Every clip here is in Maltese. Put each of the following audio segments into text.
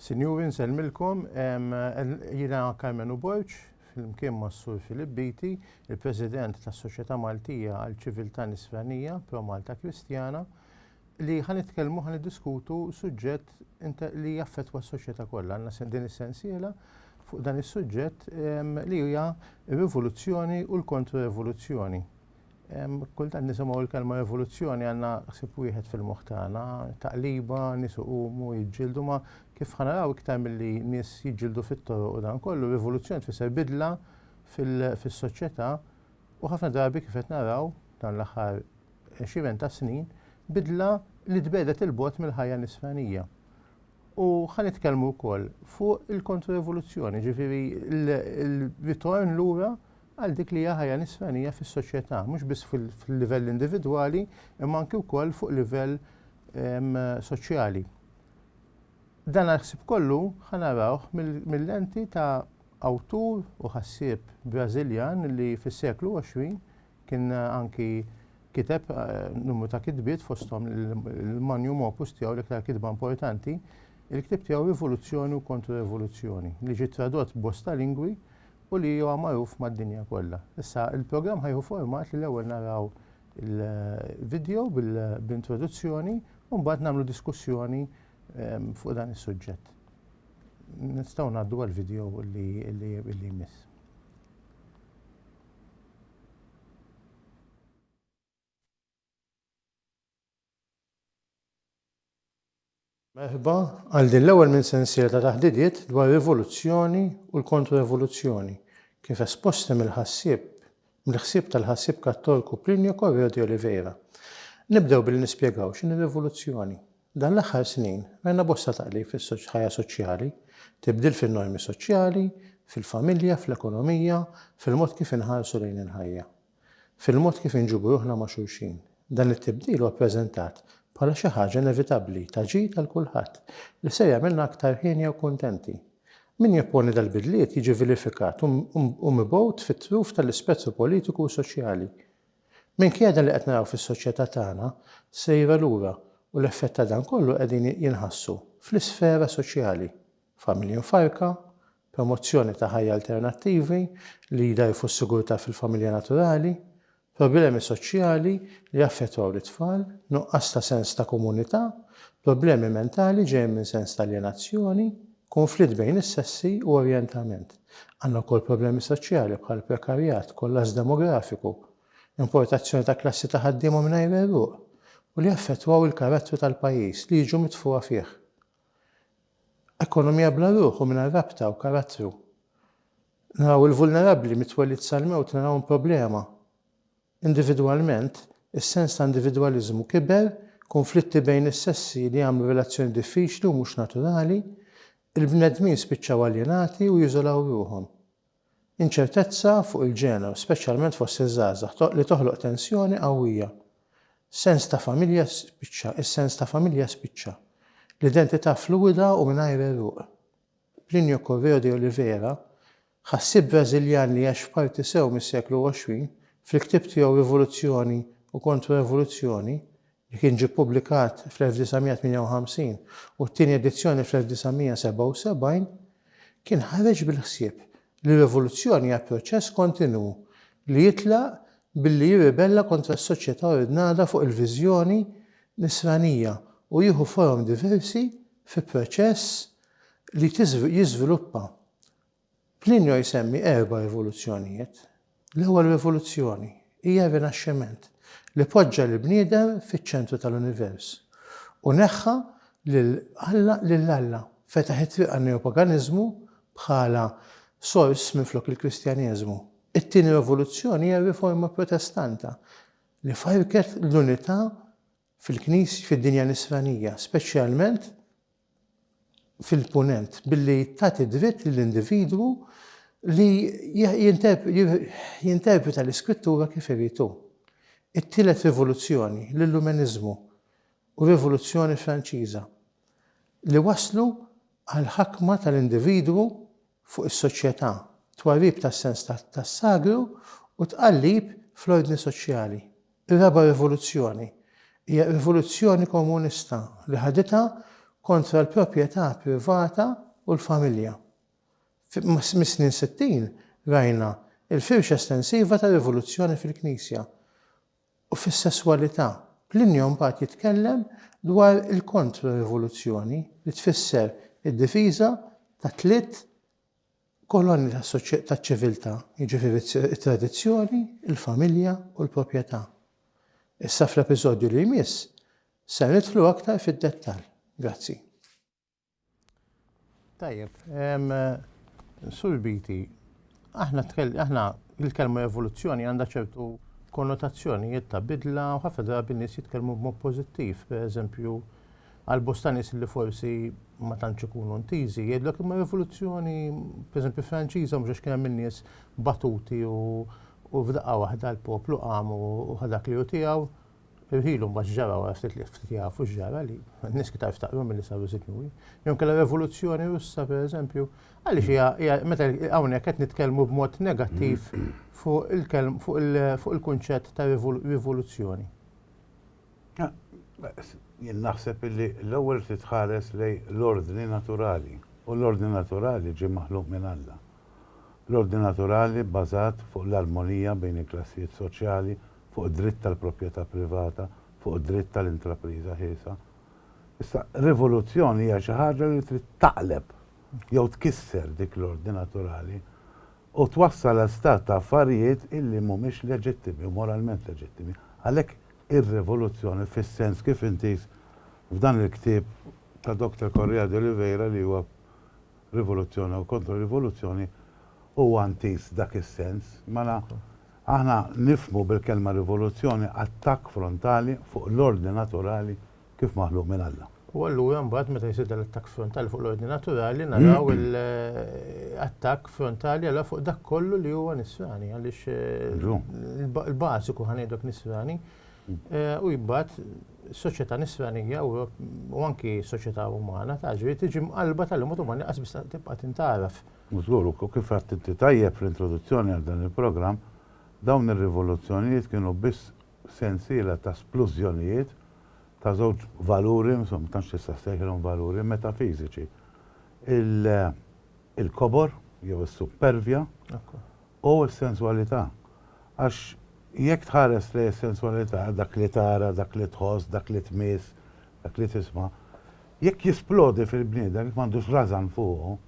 Sinjuri nsellmilkom, jiena Carmen Uborġ, flimkien mas-Sur Filip Beatty, il-President tas-Soċjetà Maltija għal Ċiviltà Nisranija, Pro Malta Kristjana, li ħa nitkellmu ħa niddiskutu suġġett li jaffettwa s-soċjetà kollha. Għandna din is-sensiela fuq dan is-suġġett li hija r-rivoluzzjoni u l-kontro-revoluzzjoni. Kultant nisimgħu l-kelma evoluzzjoni għandna ħsieb wieħed fil-moħħ tagħna, taqliba, nies iqumu, jiġġieldu, ma kif ħa naraw iktar milli nies jiġġieldu fit-toroq u dan kollu, l-evoluzzjoni tfisser bidla fis-soċjetà u ħafna drabi kif qed naraw dan l-aħħar għexieren ta' snin, bidla li tbegħdet 'il bogħod mill-ħajja nisranija. U ħa nitkellmu wkoll fuq il-kontro-evoluzzjoni, jiġifieri l-ritorn lura għal dik li hija ħajja nisranija fis-soċjetà, mhux biss fil-livell individwali, imma anki wkoll fuq livell soċjali. Dan għal-ħsib kollu ħanarawh mill-lenti ta' awtur u ħassieb Brażiljan li fis-seklu 20 kien anki kiteb eh, numru ta' kitbiet fosthom il-manjum opus tiegħu l-iktar kitba importanti, il-kitib tiegħu Rivoluzzjoni u Kontra-Rivoluzzjoni, li ġi tradott bosta lingwi u li huwa magħruf mad-dinja kollha. Issa il-programm ħa jieħu format li l-ewwel naraw il-video bl-introduzzjoni u mbagħad nagħmlu diskussjoni ehm, fuq dan is-suġġett. Nistgħu ngħaddu għall-video li jmiss. Merħba għal din l-ewwel minn sensiela ta' taħdidiet dwar rivoluzzjoni u l-kontro-evoluzzjoni, kif esposti mill-ħassieb mill-ħsieb tal-ħassieb Kattorku Plinio Correo de Oliveira. Nibdew billi nispjegaw x'inhi rivoluzzjoni. Dan l-aħħar snin rajna bosta taqlib fis-ħajja soċjali, tibdil fin-normi soċjali, fil-familja, fl-ekonomija, fil-mod kif inħarsu lejn il-ħajja. fil-mod kif inġibu ruħna ma' xulxin. Dan it-tibdil huwa ppreżentat bħala xi ħaġa inevitabbli, ta' ġid għal kulħadd, li ser jagħmilna aktar hienja u kuntenti. Min jopponi dal-bidliet jiġi vilifikat u mibgħut fit-truf tal-ispettru politiku u soċjali. Minkejja dan li qed naraw fis-soċjetà tagħna sejra lura u l-effett ta' dan kollu qegħdin jinħassu fl-isfera soċjali, familji mfarrka, promozzjoni ta' ħajja alternattivi li jdgħajfu s-sigurtà fil-familja naturali, problemi soċjali li jaffettwaw lit-tfal, nuqqas ta' sens ta' komunità, problemi mentali ġejjin minn sens ta' aljenazzjoni, kunflitt bejn is-sessi u orjentament. Għandna wkoll problemi soċjali bħal prekarjat, kollass demografiku, importazzjoni ta' klassi ta' ħaddiema mingħajr għeruq u li jaffettwaw il-karattru tal-pajjiż li jiġu mitfugħa fih. Ekonomija bla ruħ u mingħajr rabta u karattru. Naraw il-vulnerabbli mit-twelid sal-mewt narahom problema. Individwalment, is-sens ta' individwaliżmu kiber, kunflitti bejn is-sessi li għamlu relazzjoni diffiċli u mhux naturali, il-bnedmin spiċċaw aljenati u jiżolaw ruħhom. Inċertezza fuq il-ġeneru, speċjalment fost iż-żgħażagħ, li toħloq tensjoni qawwija. Sens ta' familja spiċċa, is-sens ta' familja spiċċa. L-identità fluwida u mingħajr għeruq. Plinio Correo de Oliveira, ħassieb Brażiljan li għax f'parti sew mis-seklu 20, fil-ktieb tiegħu Rivoluzzjoni u Kontro-Evoluzzjoni, li kien ġie ppubblikat fl-1958 u t-tieni edizzjoni fl-1977, kien ħareġ bil-ħsieb li r-rivoluzzjoni hija proċess kontinwu li jitlaq billi jirribella kontra s-soċjetà ordnata fuq il-viżjoni Nisranija u jieħu forom diversi fi proċess li jiżviluppa Plinio jsemmi erba' rivoluzzjonijiet. L-ewwel rivoluzzjoni hija r-Rinaxximent li poġġa lill-bniedem fiċ-ċentru tal-univers u neħħa lil Alla lil Alla, fetaħ it-triq għan-neopaganiżmu bħala sors minflok il-Kristjaneżmu. It-tieni rivoluzzjoni hija r-Riforma Protestanta li farrket l-unità fil-Knis, fid-dinja Nisranija, speċjalment fil-Punent, billi tagħti dritt lill-individwu li jinterpreta l-Iskrittura kif irid hu. It-Tielet Rivoluzzjoni, l-Illumeniżmu u r-Rivoluzzjoni Franċiża, li wasslu għall-ħakma tal-individwu fuq is-soċjetà, twarrib tas-sens tas-sagru u tqallib fl-ordni soċjali. Ir-raba' rivoluzzjoni hija rivoluzzjoni komunista li ħaditha kontra l-proprjetà privata u l-familja. Mis-snin sittin rajna l-firxa estensiva tar-rivoluzzjoni fil-Knisja u fis-sesswalità. Plinio mbagħad jitkellem dwar il-kontro-rivoluzzjoni li tfisser id-difiża tat-tliet Kolonni taċ-ċiviltà, jiġifieri t-tradizzjoni, il-familja u l-proprjetà. Issa fl-episodju li jmiss ser nidħlu aktar fid-dettall. Grazzi. Tajjeb, Sur Beatty, aħna aħna il-kelma evoluzzjoni għandha ċertu konnotazzjonijiet ta' bidla u ħafna drabi nies jitkellmu b'mod pożittiv, pereżempju Għal bosta nies li forsi ma tantx ikunu ntiżi, jgħidlek imma rivoluzzjoni, pereżempju Franċiża, mhux għax kien hemm in-nies batuti u u f'daqqa waħda l-poplu qam u ħa dak li hu tiegħu. Irħilu mbagħad x'ġara wara ftit li ftit jafu x'ġara li n-nies iktar ftaqru milli saru sinjuri. Jew inkella r-Revoluzzjoni Russa pereżempju, għaliex hija hija meta hawnhekk qed nitkellmu b'mod negattiv fuq il-kelm fuq il-kunċett ta' rivoluzzjoni. Jien naħseb illi l-ewwel trid tħares lejn l-ordni naturali, u l-ordni naturali ġie maħluq minn Alla. L-ordni naturali bbażat fuq l-armonija bejn il-klassijiet soċjali, fuq id-dritt tal-proprjetà privata, fuq id-dritt tal-intrapriża ħielsa. Issa, rivoluzzjoni hija xi ħaġa li trid taqleb jew tkisser dik l-ordni naturali. u twassal għal stat ta' affarijiet illi mhumiex leġittimi u moralment leġittimi. Għalhekk ir-rivoluzzjoni fis-sens kif intiż f'dan il-ktieb ta' Doctor Correia de Oliveira li huwa Rivoluzzjoni u Kontro-Rivoluzzjoni huwa intiż dak is-sens. Mela aħna nifhmu bil-kelma rivoluzzjoni attakk frontali fuq l-ordni naturali kif maħluq minn Alla. U allura mbagħad meta jsir dan l-attakk frontali fuq l-ordni naturali naraw l-attakk frontali għala fuq dak kollu li huwa nisrani għaliex eh, il-bażiku ħanejdok nisrani eh, u jibgħat soċjetà nisranija u anki soċjetà umana ta' ġri tiġi mqalba tal-imut umani qas biex tibqa' tintaraf. Mużgur, u kif għattinti tajjeb fl-introduzzjoni għal dan il-programm, dawn ir-rivoluzzjonijiet kienu biss sensiela ta' splużjonijiet ta' żewġ valuri, insomma, ma tantx tista' ssejħilhom valuri, metafiżiċi. Il-kobor, jew is-suppervja, u s-senswalità. Għax jekk tħares lejn is-senswalità, dak li tara, dak li tħoss, dak li tmiss, dak li tisma', jekk jisplodi fil-bniedem, jekk m'għandux rażan fuqu,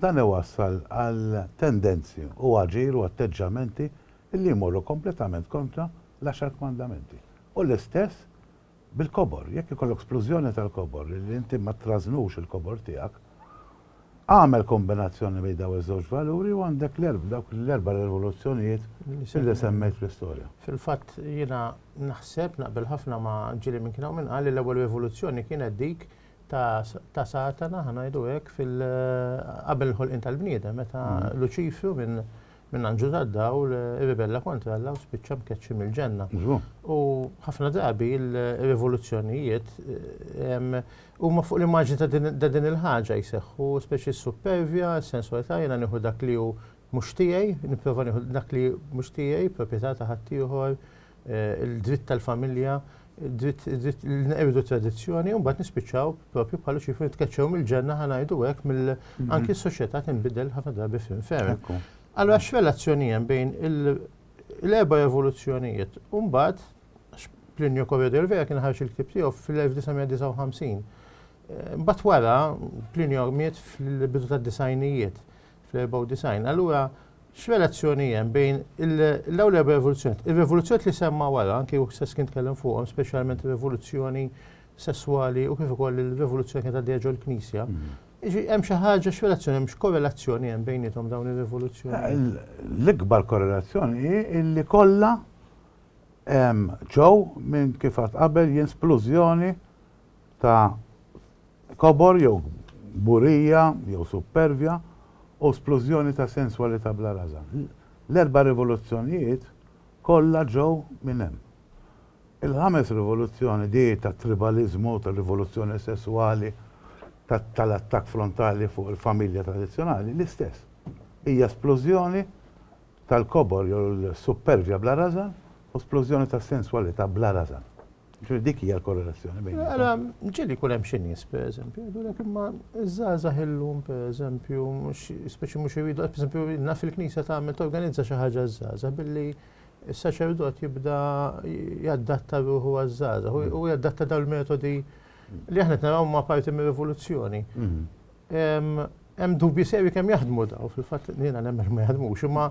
dan iwassal għal tendenzi u aġir u atteġġjamenti li jmorru kompletament kontra l-Għaxar Kmandamenti. U l-istess bil-kobor. Jekk ikollok splużjoni tal-kobor li inti ma trażnux il-kobor tiegħek, agħmel kombinazzjoni bejn dawn iż-żewġ valuri u għandek dawk l-erba' rivoluzzjonijiet li semmejt fl-istorja. Fil-fatt jiena naħseb, naqbel ħafna ma' ġieli minn kien hawn min qal li l-ewwel rivoluzzjoni kienet dik ta' Satana, ħa ngħidu hekk, qabel il-ħolqien tal-bniedem meta Luċifru minn minn anġlu tad-dawl irribella kontra Alla u spiċċa mkeċċi mill-ġenna. U ħafna drabi l-rivoluzzjonijiet ehm, huma fuq l-immaġni ta' din il-ħaġa jseħħu, speċi s-supervja, s-sensualità jiena nieħu dak li hu mhux tiegħi, nipprova nieħu dak li mhux tiegħi, proprjetà ta' ħaddieħor, eh, il-dritt tal-familja, il-dritt tradizzjoni, un bat nispiċaw propju bħalu ċifri nitkeċċew mill-ġenna ħanajdu għek mill mhm. anki s-soċieta tinbidel ħafna drabi fin ferm. Allora x-relazzjoni jen bejn l-erba evoluzzjonijiet, un bat Plinio Corredo vera kien ħarġ il-kib tiegħu fil-1959. Eh, bat wara Plinio miet fil-bidu tad-disajnijiet fl-94. Allura X'relazzjoni hemm bejn l-ewwel erba' revoluzzjonijiet? Ir-revoluzzjonijiet li semma wara, anki hu stess kien tkellem fuqhom, speċjalment ir-revoluzzjoni sesswali u kif ukoll il-revoluzzjoni kienet għaddejja ġol-Knisja. Jiġri hemm xi ħaġa x'relazzjoni hemm, x'korrelazzjoni hemm bejniethom dawn ir-revoluzzjonijiet? L-ikbar korrelazzjoni hi li kollha ġew minn kif għadt qabel jien splużjoni ta' kobor jew kburija jew suppervja u splużjoni ta' senswalità bla rażan. L-erba' rivoluzzjonijiet kollha ġew minn hemm. Il-ħames rivoluzzjoni, dik tat-tribaliżmu, tar-rivoluzzjoni sesswali, tal-attakk frontali fuq il-familja tradizzjonali, l-istess. Hija splużjoni tal-kobor jew l-suppervja bla rażan u splużjoni tas-senswalità bla rażan. Ġuri dik hija l-korrelazzjoni bejn. Għala, ġieli kull hemm xi nies, pereżempju, jgħidulek imma iż-żgħażagħ illum, pereżempju, speċi mhux iridu, pereżempju, naf il-Knisja tagħmel torganizza xi ħaġa żgħażagħ billi s-saċerdot jibda jaddatta ruħu għaż-żgħażagħ u jaddatta dawn il-metodi li aħna naraw ma' parti mir-rivoluzzjoni. Mm-hmm. Hemm dubji serji kemm jaħdmu daw, fil-fatt jiena nemmen ma jaħdmux, imma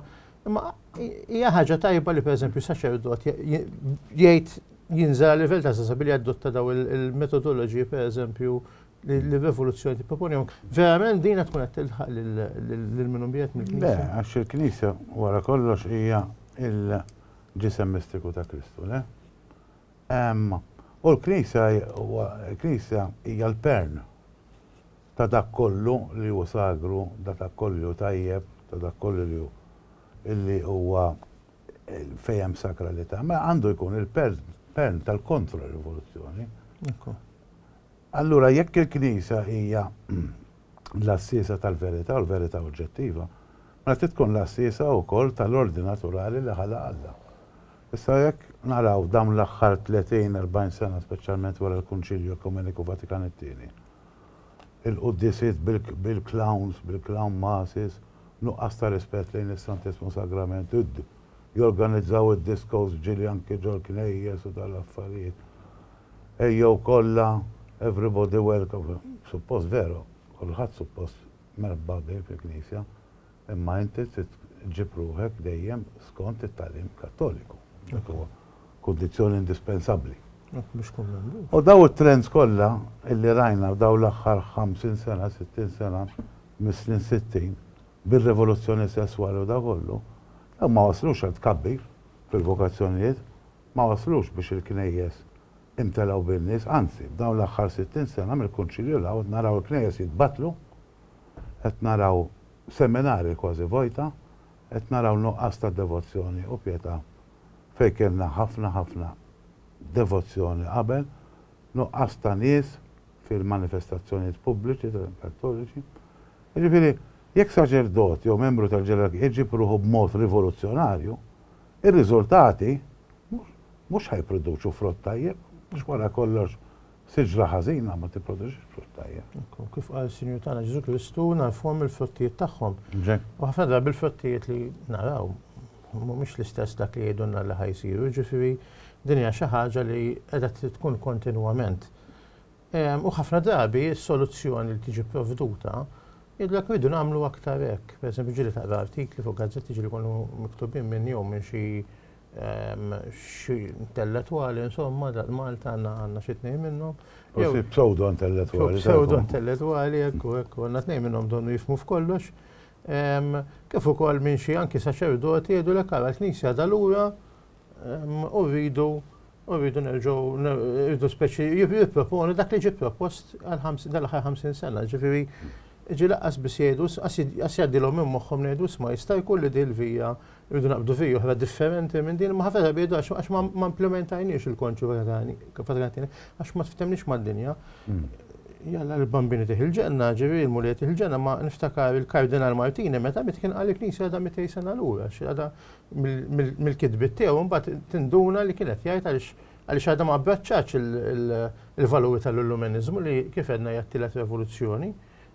imma hija ħaġa tajba li pereżempju saċerdot jgħid jinżel għal livell ta' sesa billi jadotta daw il-metodoloġiji pereżempju li l-rivoluzzjoni tipproponihom. Verament din tkun qed tilħaq lil minhom biet mill-Knisja. Le, għax il-Knisja wara kollox hija il-ġisem mistiku ta' Kristu, le? U l-Knisja huwa, il-Knisja hija l-pern ta' dak kollu li hu sagru, ta' dak kollu li hu tajjeb, ta' dak kollu li hu, li huwa fejn hemm sakralità. Mela għandu jkun il-pern tal-kontra rivoluzzjoni. Allura jekk il-Knisja hija l-għassiesa tal-verità u l-verità oġġettiva, mela trid tkun l-għassiesa wkoll tal-ordni naturali li ħalaq Alla. Issa jekk naraw dawn l-aħħar tletin, erbgħin sena speċjalment wara l-Kunċilju Ekumeniku Vatikan it-Tieni, il-quddiesiet bil-clowns, bil-clown masses, nuqqas ta' rispett lejn is-Santissmu Sagrament, jorganizzaw id-discos f'ġieli anki ġol-knejjes u dan l-affarijiet. Ejjew kollha, everybody welcome. Suppost veru, kulħadd suppost merħba bih fil-Knisja. Imma inti trid ġġib ruħek dejjem skont it-tagħlim Kattoliku. Dik huwa kundizzjoni indispensabbli. Hekk biex tkun membru. U dawn it-trends kollha illi rajna f'dawn l-aħħar 50 sena, 60 sena, mis-snin 60, bir-rivoluzzjoni sesswali u dak kollu, dawn ma waslux għal tkabbir fil-vokazzjonijiet, ma waslux biex il-knejjes imtelgħu bin-nies, anzi, f'dawn l-aħħar 60 sena mill-Kunċilju 'l hawn qed naraw il-knejjes jitbattlu, qed naraw seminari kważi vojta, qed naraw nuqqas ta' devozzjoni u pjetà fejn kellna ħafna ħafna devozzjoni qabel, nuqqas ta' nies fil-manifestazzjonijiet pubbliċi tal-kattoliċi. Jiġifieri, jekk saċerdot jew membru tal-ġerarkija jġib ruħu b'mod rivoluzzjonarju, ir-riżultati mhux ħa jipproduċu frott tajjeb, għax wara kollox Siġra ħażina ma tipproduċix frott tajjeb. Ekku, kif qal is-Sinjur tagħna Ġesù Kristu, nagħrfuhom mill-frottijiet tagħhom. U ħafna drabi l-frottijiet li naraw mhumiex l-istess dak li jgħidulna li ħa jsiru, jiġifieri din hija xi ħaġa li qiegħda tkun kontinwament. Ehm, u ħafna drabi s-soluzzjoni li tiġi provduta jidlek rridu nagħmlu aktar hekk. Pereżempju ġieli taqra artikli fuq gazzetti ġieli jkunu miktubin minn jew minn xi xi intelletwali, insomma, Malta għandna xi tnejn minnhom. U xi pseudo-intelletwali. Pseudo-intelletwali, ekku, ekku, għandna tnejn minnhom donnu jifmu f'kollox. Kif ukoll minn xi anki saċerdoti jgħidu l-ekk għal knisja dal-ura u rridu u rridu nerġgħu rridu speċi jipproponu dak li ġie propost dal-aħħar 50 sena, ġifieri ġi laqqas biss jgħidu għas jgħaddilhom minn moħħhom ngħidu sma jista' jkun li dil-vija Irridu naqbdu vija oħra differenti minn din, ma ħafna drabi jgħidu għax għax ma ma implementajniex il-konċu vegani, vegani, għax ma tftemniex mad-dinja. Hmm. Jalla l-bambini tiħ il-ġenna, ġivi l-mulja tiħ il-ġenna, ma niftakar il-Kardinal Martini meta mit kien għalik nisi għada mitej sena l-ura, għada mill-kitbit tiegħu mbagħad tinduna li kienet jgħid għaliex għaliex għadha ma abbraċċax il-valuri tal-illuminizmu li kif għedna jattilet revoluzzjoni.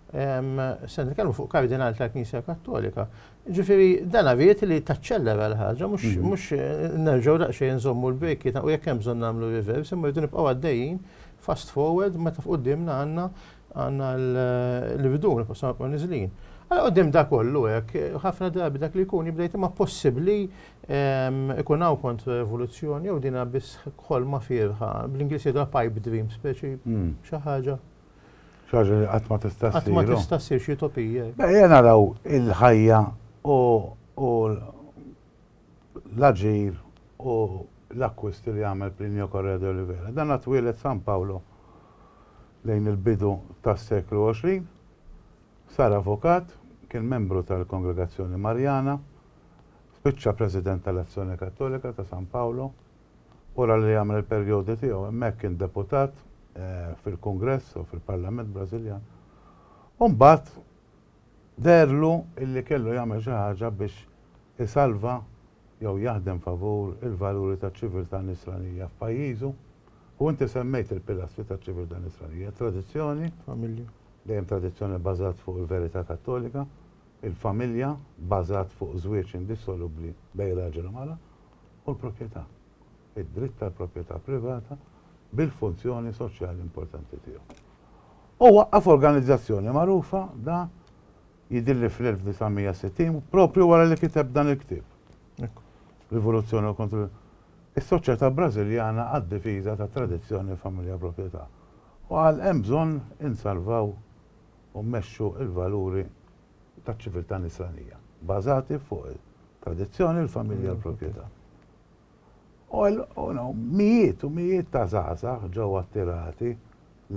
se nitkellmu fuq kardinal tal-Knisja Kattolika. Ġifieri dan għaviet li taċċellera l-ħaġa, mhux mhm. nerġgħu daqsxejn nżommu l-brejki u jekk hemm bżonn nagħmlu reverse, imma rridu nibqgħu għaddejjin fast forward meta f'qudiemna għandna għandna l-bidun, possima kun niżlin. Għala għoddim da kollu hekk, ħafna drabi dak li jkun jibdejt imma possibbli ikun hawn kontra rivoluzzjoni jew dina biss ħolma firħa, bl-Ingliż jidha pipe dream speċi mhm. xi ħaġa. Xi ħaġa li qatt ma tista' ssir. Qatt ma tista' ssir xi utopija. Ejja naraw il-ħajja u l-aġir u l-akkwisti li għamel Plinio Correa de Oliveira. Dan twieled San Paolo lejn il-bidu tas-seklu 20, sar avukat, kien membru tal-Kongregazzjoni Marjana, spiċċa President tal-Azzjoni Kattolika ta' San Paolo, Wara li għamel il-perjodu tiegħu hemmhekk kien deputat fil-Kungress u fil-Parlament Brażiljan u mbagħad deherlu illi kellu jagħmel xi ħaġa biex isalva jew jaħdem favur il-valuri taċ-ċiviltà Nisranija f'pajjiżu u inti semmejt il-pilastri taċ-ċiviltà Nisranija, it-tradizzjoni, familja, dejjem tradizzjoni bbażat fuq il-verità Kattolika, il-familja bbażat fuq żwieġ indissolubbli bejn raġel u mara, u l-proprjetà, id-dritt tal-proprjetà privata bil-funzjoni soċjali importanti tiegħu. U waqqaf organizzazzjoni magħrufa da jidilli fl-1960 propju wara li kiteb dan il-ktieb. Rivoluzzjoni u kontru is-soċjetà Brażiljana għad-difiża ta' tradizzjoni familja proprjetà. U għal hemm bżonn insalvaw u mmexxu l-valuri taċ-ċiviltà Nisranija, bbażati fuq it-tradizzjoni, il-familja u l-proprjetà. U mijiet u mijiet ta' żgħażagħ ġew attirati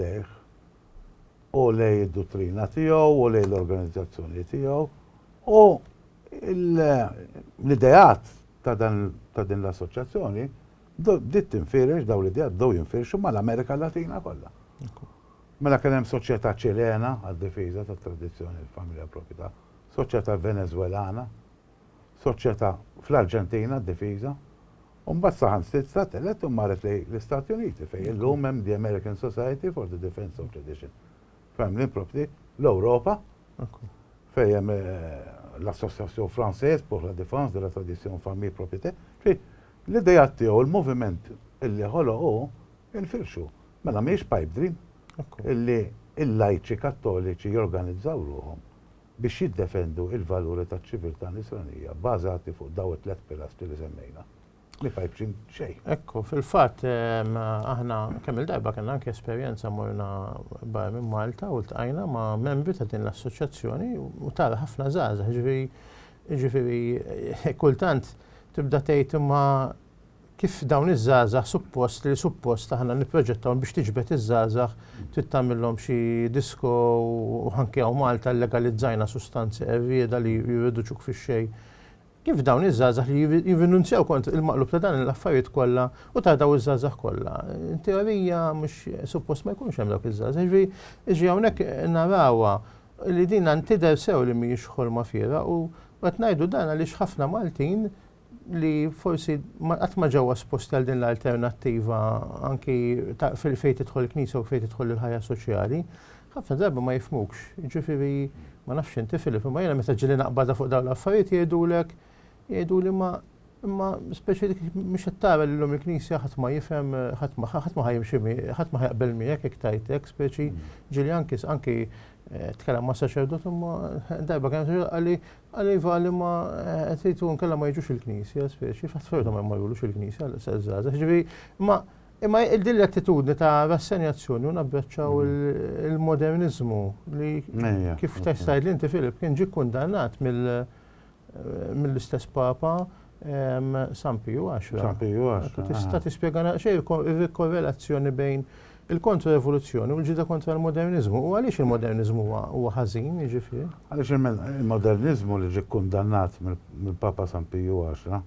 lejh u lejn id-duttrina tiegħu u lejn l-organizzazzjoni tiegħu u l-ideat ta' din l-assoċjazzjoni bdiet tinfirex dawn l-ideat bdew jinfirxu mal-Amerika Latina kollha. Mela kien hemm Soċjetà Ċilena għad-Difiża tat-Tradizzjoni u l-Familja Proprjetà, Soċjetà Venezwelana, Soċjetà fl-Arġentina għad-Difiża, u mbagħad saħansitra telgħet u marret lejn l-Istati Uniti fejn illum hemm The American Society for the Defence of Tradition, Family Property, l-Ewropa fejn hemm l-Association Française pour la Défense de la Tradition Famille Propriété. Ġifieri, l-ideat tiegħu, l-moviment li ħoloq hu, infirxu. Mela mhijiex pipe dream illi l-lajċi kattoliċi jorganizzaw ruħhom biex jiddefendu l-valuri taċ-ċiviltà Nisranija bbażati fuq daw it-tliet pilastri li semmejna. Mhi pipe dream xejn. Ekku, fil-fatt aħna kemm-il darba kellna anke esperjenza morna barra minn Malta u ltqajna ma' membri ta' din l-assoċjazzjoni u tara ħafna żgħażagħ, jiġifieri kultant tibda tgħid imma Kif dawn iż-żgħażagħ suppost li suppost aħna nipproġettawhom biex tiġbed iż-żgħażagħ trid tagħmilhom xi disko u anke hawn Malta llegalizzajna sustanzi qerrieda li jirriduċuk fix-xejn. Kif dawn iż-żgħażagħ li jirrinunzjaw kont il-maqlub ta' dan l-affarijiet kollha u ta' dawn iż-żgħażagħ kollha. In teorija mhux suppost ma jkunx hemm dawk iż-żgħażagħ. Jiġri jiġri hawnhekk narawha li din tidher sew li mhijiex ħolma fiergħa u qed ngħidu dan għaliex ħafna Maltin li forsi qatt ma ġew esposti għal din l-alternattiva anki fejn tidħol il-Knisja u fejn tidħol il-ħajja soċjali, ħafna drabi ma jifmukx. Ġifieri ma nafx inti Filip, imma jiena meta ġili naqbada fuq dawn l-affarijiet jgħidulek jgħiduli ma imma speċi dik mhux qed tara li llum il-Knisja ħadd ma jifhem ħadd ma ħadd ma ħajimxi ħadd ma ħajqbel miegħek jekk tajtek speċi ġili anki anki eh, tkellem ma' saċerdot imma darba kien qalli Qal iva li ma qed jgħid hu nkella ma jiġux il-knisja speċi, fatt ferda ma jmorrulux il-knisja għal sa żgħażagħ. Ġifieri imma imma din l-attitudni ta' rassenjazzjoni u nabbraċċaw il-moderniżmu li kif tgħidli inti Filip kien ġie kkundannat mill-istess Papa San Piju għaxra. San Piju għaxra. Tista' ah. tispjega naqxej il-korrelazzjoni bejn il-kontra-revoluzzjoni u l-ġida kontra l-moderniżmu u għaliex il-moderniżmu huwa ħażin, jiġifieri? Għaliex il-moderniżmu li ġie kundannat mill-Papa San Piju għaxra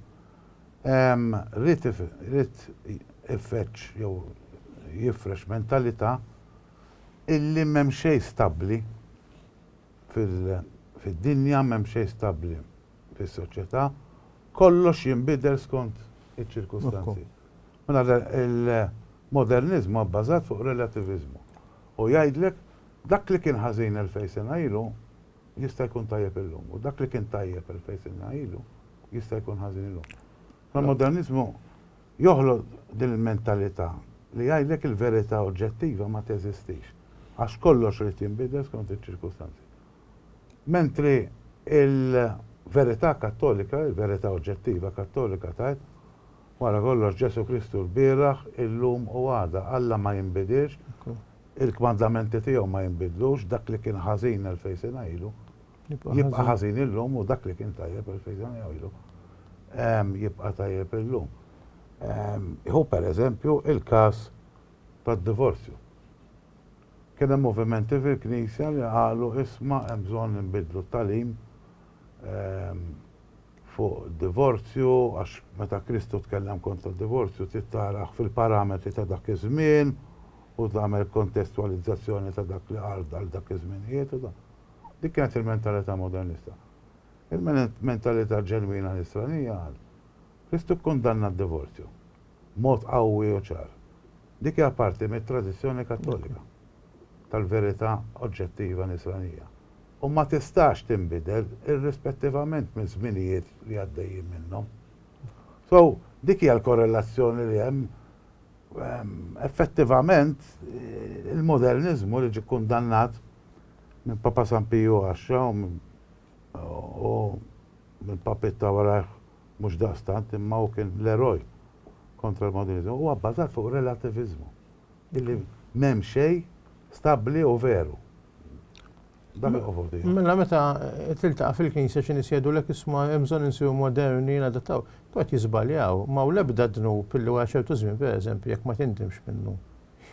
rrid ifeċċ jew jifrex mentalità illi m'hemm xejn stabbli fid-dinja m'hemm xejn stabbli fis-soċjetà, kollox jinbidel skont iċ-ċirkustanzi. Mela il-moderniżmu huwa bbażat fuq relattiviżmu u jgħidlek dak li kien ħażin elfejn sena ilu jista' jkun tajjeb illum u dak li kien tajjeb elfejn sena ilu jista' jkun ħażin illum. Il-moderniżmu joħloq din il-mentalità li jgħidlek il-verità oġġettiva ma teżistix għax kollox irid jinbidel skont iċ-ċirkustanzi. Mentri l-verità Kattolika, il-verità oġġettiva Kattolika tgħid, Wara kollox Ġesù Kristu lbieraħ, illum u għada. Alla ma jinbidilx, il-kmandamenti tiegħu ma jinbidlux, dak li kien ħażin elfejn sena ilu, jibqa' ħażin illum u dak li kien tajjeb elfejn sena ilu, jibqa' tajjeb illum. Ħu pereżempju l-każ tad-divorzju. Kien hemm movimenti fil-Knisja li qalu isma' hemm bżonn li nbiddlu t-tagħlim fuq id-divorzju għax meta Kristu tkellem kontra d-divorzju trid tarah fil-parametri ta' dak iż-żmien u tagħmel kontestwalizzazzjoni ta' dak li qal għal dak iż-żminijiet u dak. Dik kienet il-mentalità modernista. Il-mentalità ġenwina nisranija qal, Kristu kkundanna d-divorzju b'mod qawwi u ċar. Dik hija parti mit-tradizzjoni Kattolika tal-verità oġġettiva Nisranija u ma tistax tinbidel irrispettivament miż-żminijiet li għaddejjin minnhom. So, dik hija l-korrelazzjoni li hemm. Effettivament, il-moderniżmu li ġie kkundannat minn Papa San Piju Għaxxa u mill-papiet ta' warajh, Mhux daqstant, imma hu kien l-eroj kontra l-moderniżmu. Huwa bbażat fuq relativiżmu, illi m'hemm xejn stabbli u veru. Dak li qofol tiegħu. Mela meta tiltaqa' fil-knisja xi nies jgħidulek isma' hemm bżonn insiru moderni, nadattaw, kienu qed jiżbaljaw. Ma hawn l-ebda dnub illi wara ċertu żmien, pereżempju, jekk ma tindimx minnu,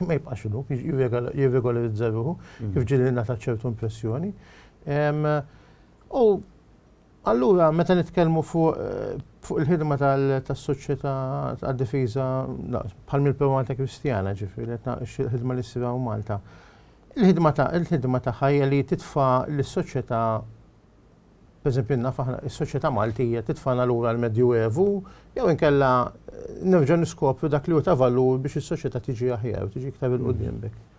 ma jibqax dnub, jirregolarizza ruħu, kif ġieli ngħatat ċertu impressjoni. U Allura, meta nitkellmu fuq fuq il-ħidma tas-Soċjetà għad-Difiża bħal mill-Primata Kristjana, ġifieri qed naqx il-ħidma li ssir hawn Malta. Il-ħidma ta' il-ħidma tagħha hija li titfa' lis-soċjetà pereżempju naf aħna is-soċjetà Maltija titfana lura l-Medju Evu jew inkella nerġa' niskopru dak li hu ta' valur biex is-soċjetà tiġi aħjar, tiġi iktar il-qudiem b'hekk.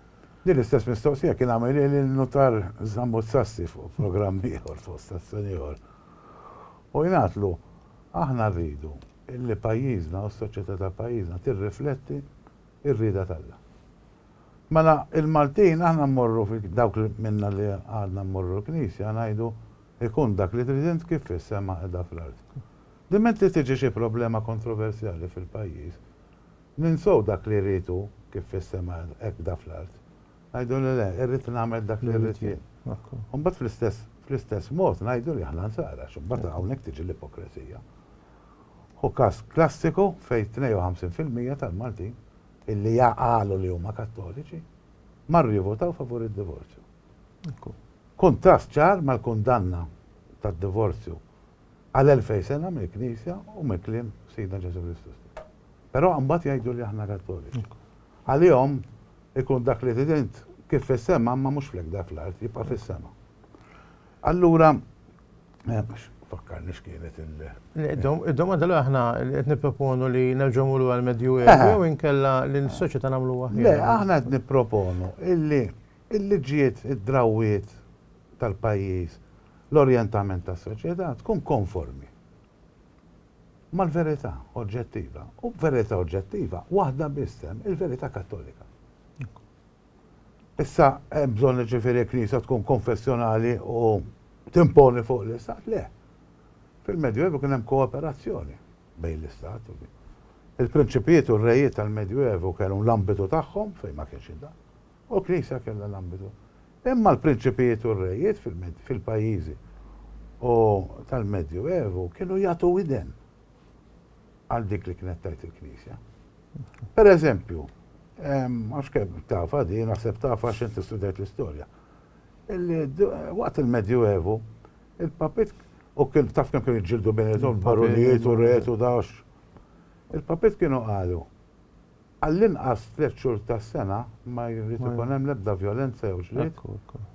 Din l-istess mistoqsija kien għamilha lil Nutar Zammut Sassi fuq programm ieħor fuq stazzjon ieħor. U jingħadlu, aħna rridu illi pajjiżna u s-soċjetà ta' pajjiżna tirrifletti r-rieda t'Alla. Mela il-Maltin aħna mmorru dawk minna li għadna mmorru l-knisja ngħidu ikun dak li trid int kif fis-sema qiegħda fl-art. Diment li tiġi xi problema kontroversjali fil-pajjiż, Ninsew dak li jrid hu, kif fis-sema hekk bda fl-art. Ngħidu li le, irrid nagħmel dak li rrid jien. U mbagħad fl-istess fl-istess mod ngħidu li aħna Nsara għax imbagħad hawnhekk tiġi l-ipokresija. Hu każ klassiku fejn 52 fil-mija tal-Maltin illi jaqalu li huma Kattoliċi marru jivvutaw favur id-divorzju. Kuntrast ċar mal-kundanna tad-divorzju għal elfej sena mill-Knisja u mill-kliem Sidna Ġesu Kristu stess. Però mbagħad jgħidu li aħna Kattoliċi. Għalihom ikun dak li tidint kif fis-sema ma mhux flek dak l-art jibqa' fis-sema. Allura eh, fakkarni x'kienet il- Id-domanda li aħna qed nipproponu li nerġgħu lura l-Medju Evu eh. jew inkella li s-soċjetà nagħmlu Le, aħna qed nipproponu illi il-liġijiet, id-drawwiet tal-pajjiż, l-orjentament tas-soċjetà tkun konformi mal-verità oġġettiva. U verità oġġettiva waħda biss hemm, il-verità Kattolika. Issa hemm bżonn ġifieri l-Knisja tkun konfessjonali u timponi fuq l-Istat? Le. Fil-Medjuevu kien hemm kooperazzjoni bejn l-Istat u din. Il-prinċipijiet u r-rejiet tal-Medjuevu kellhom l-ambitu tagħhom fejn ma kienx id-dan. U Knisja kellha l-ambitu. Imma l-prinċipijiet u r-rejiet fil-pajjiżi u tal-Medju Evu kienu jagħtu widen għal dik li kienet tgħid il-Knisja. Per eżempju, għax kemm tafa di, naħseb tafa x'int istudjajt l-istorja. Waqt il-Medju Evu, il-papit U kien taf kemm kienu jġildu bejnietom barunijiet u retu dax. Il-papit kienu qalu għall-inqas tliet xhur tas-sena ma jrid ikun hemm l-ebda vjolenza jew ġlied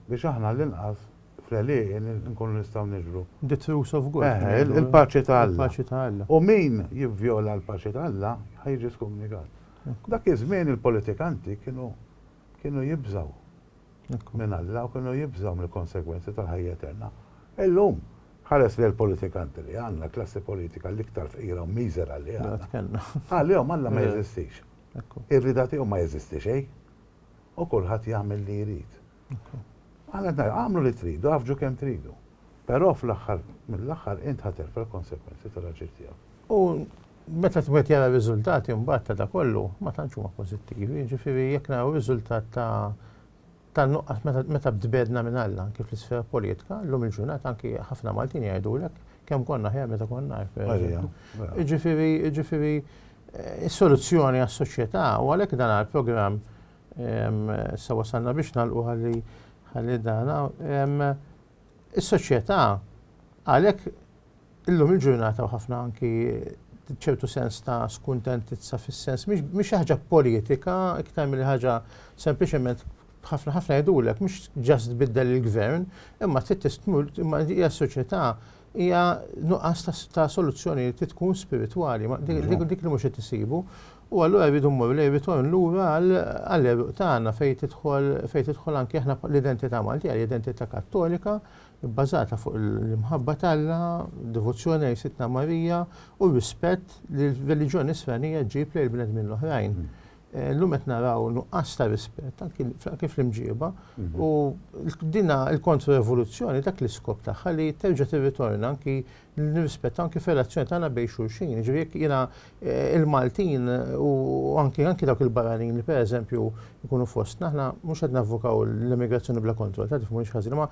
biex aħna għall-inqas fl-għelieqi nkunu nistgħu niġru. The truce of God. Eħe, il-paċi ta' Alla. Il-paċi ta' Alla. U min jivvjola l-paċi ta' Alla ħa jiġi skumnigat. Dak iż-żmien il-politikanti kienu kienu jibżgħu. minn Alla u kienu jibżgħu mill-konsegwenzi tal-ħajja eterna. Illum, ħares lejn il-politikanti li għandna, l-klassi politika l-iktar fqira u miżera li għandna. Għalihom Alla ma jeżistix. Ir-rieda tiegħu ma jeżisti xejn. U kulħadd jagħmel li jrid. Għamlu li tridu, għaffġu kemm tridu. Però fl-aħħar mill-aħħar int ħa terfa' l-konsegwenzi tal-aġir tiegħek. U meta wieħed jara r-riżultati mbagħad ta' da kollu ma tantx huma pożittivi, jiġifieri jekk naraw riżultat ta' ta' nuqqas meta meta bdbedna minn Alla anke fl-isfera politika, llum il-ġurnata anke ħafna Maltin jgħidulek kemm konna aħjar meta konna hekk pereżempju. Jiġifieri jiġifieri eh, is-soluzzjoni għas-soċjetà u għalhekk dan għal programm sa wasalna biex nagħlqu ħalli ħalli dana Is-soċjetà għalhekk illum il-ġurnata u ħafna anki ċertu sens ta' skuntentizza fis-sens mhix xi ħaġa politika iktar milli ħaġa sempliċement ħafna ħafna jgħidulek mhux ġast biddel il-gvern, imma trid imma hija soċjetà hija nuqqas ta' soluzzjoni li tkun spiritwali, dik li mhux qed isibu. U allura rridu mmorru lejn ritorn lura għall-eruq tagħna fejn tidħol fejn tidħol anke aħna l-identità Maltija, l-identità Kattolika, bbażata fuq l-imħabba t'Alla, devozzjoni lejn Sidna Marija u rispett li l-reliġjoni Nisranija ġġib lejn bnedmin l-oħrajn. Illum qed naraw nuqqas ta' rispett anki anki fl-imġieba u dina l-kontroevoluzzjoni dak l-iskop tagħha li terġa' tirritorna anki nirrispettaw anki fir-relazzjoni tagħna bejn xulxin. Jiġifieri jekk jiena il-Maltin u anki anki dawk il-barranin li pereżempju jkunu fostna aħna mhux qed navvokaw l-immigrazzjoni bla kontroll, ta' tifhmuni xi ħażin, imma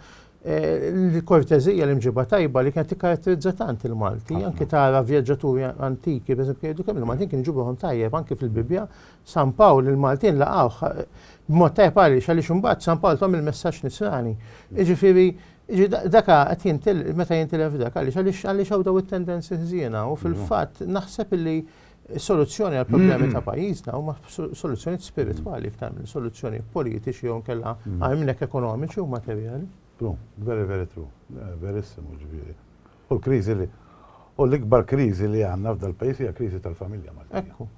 l-korteżija, l-imġiba tajba li kienet tikkaratterizza tant il-Malti, anki tara vjaġġaturi antiki, per esempio, jgħidu kemm il-Maltin kienu ġibuhom tajjeb anki fil-Bibbja, San Pawl il-Maltin laqgħuh b'mod tajjeb għaliex għaliex imbagħad San Pawl tom il-messaġġ nisrani. Jiġifieri daka qed jintil meta jintilef dak għaliex għaliex għaliex hawn daw it-tendenzi ħżiena u fil-fatt naħseb illi Is-soluzzjoni għal problemi ta' pajjiżna huma soluzzjoni spiritwali iktar minn soluzzjoni politiċi jew kella għajmnek ekonomiċi u materjali. True, very very true, eh, verissimu ġifieri. U l-kriżi li u l-ikbar kriżi li għandna f'dal pajjiż hija kriżi tal-familja Maltija. Ekku.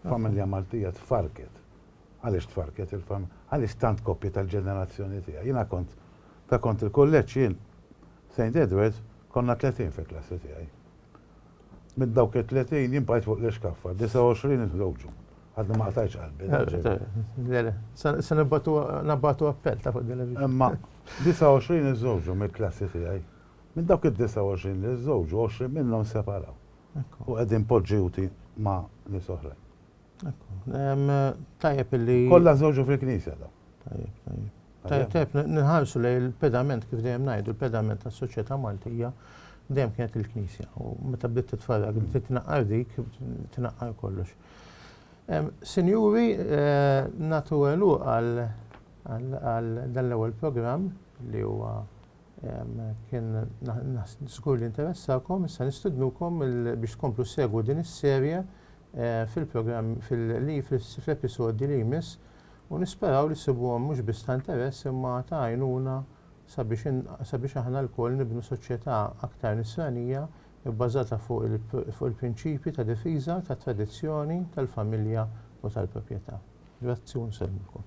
Familja Maltija tfarket. Għaliex tfarket il-familja? Għaliex tant koppji tal-ġenerazzjoni tiegħi? Jiena kont ta' kont il-kulleġġ jien St. Edwards konna 30 fil-klassi tiegħi. Minn dawk it-30 jien bqajt fuq l-ixkaffa, 29 inħroġu. Għadni ma qtajtx qalbi. Se nabatu appell ta' fuq din il-video. Imma 29 iżżewġu mill-klassi tiegħi. Minn dawk id-29 li żżewġu, 20 minnhom separaw. U qegħdin poġġjuti ma' nies oħrajn. Tajjeb illi. Kollha żewġu fil-Knisja daw. Tajjeb, tajjeb. Tajjeb, tajjeb, nħarsu lej il-pedament kif dejjem ngħidu, il-pedament tas-soċjetà Maltija dejjem kienet il-Knisja. U meta bdiet titfarrak, bdiet tnaqqar dik, tnaqqar kollox. Sinjuri, eh, natu għelu għal dan l-ewwel programm li huwa kien żgur li interessakom, issa nistidnukom biex tkomplu segwu din is-serje fil-programm fil-li fl-episodji li jmiss u nisperaw li ssibuhom mhux biss ta' interess imma ta' għajnuna sabiex sabiex aħna lkoll nibnu soċjetà aktar nisranija bbażata fuq fuq il-prinċipji ta' difiża tat-tradizzjoni, tal-familja u tal-proprjetà. Grazzi u nsellmilkom.